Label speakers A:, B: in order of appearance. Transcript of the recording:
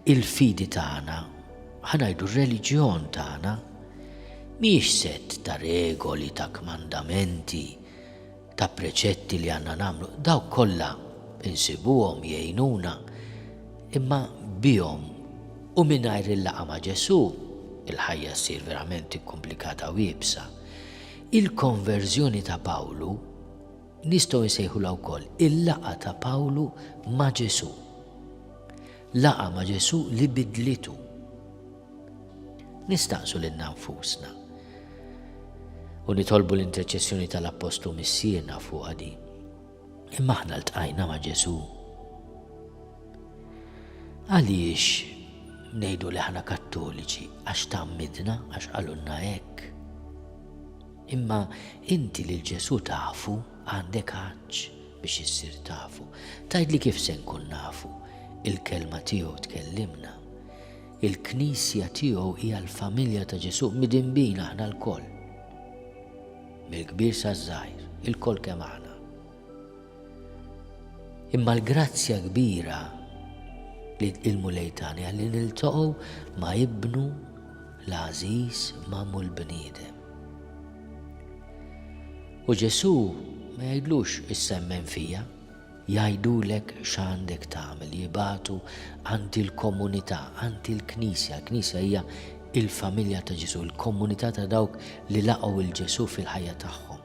A: il-fidi tagħna, ħanajdu r-reliġjon tagħna, mhijiex set ta' regoli, ta' kmandamenti, ta' preċetti li għandna nagħmlu, daw kollha insibuhom jgħinuna, imma bihom u mingħajr il-laqa ma' Ġesu, il-ħajja ssir verament ikkomplikata u jibsa. Il-konverżjoni ta' Pawlu nistgħu nsejħulha wkoll il-laqgħa ta' Pawlu ma' Ġesù. Laqgħa ma' Ġesù li bidlitu. Nistaqsu lil nfusna u nitolbu l-interċessjoni tal-Appostlu Missierna fuq din. Imma aħna ltqajna ma' Ġesù. Għaliex ngħidu li aħna Kattoliċi? Għax tgħammidna, għax qalulna hekk. Imma inti lil Ġesù tafu għandek għaġġ biex issir tafu. Tgħidli kif se nkun nafu? Il-kelma tiegħu tkellimna. Il-Knisja tiegħu hija l-familja ta' Ġesù midinbin aħna lkoll. Mill-kbir saż-żgħir, ilkoll kemm aħna. Imma l-grazzja kbira li il-Mulej tani li niltaqgħu ma' ibnu l-għażiż magħmul bniedem. U Ġesu ma jgħidlux issemmen fija, Jgħidulek x'għandek tagħmel, jibagħtu għand il-komunità, għand il-Knisja. Il-Knisja hija l-familja ta' Ġesù, il-komunità ta' dawk li laqgħu 'l Ġesù fil-ħajja tagħhom.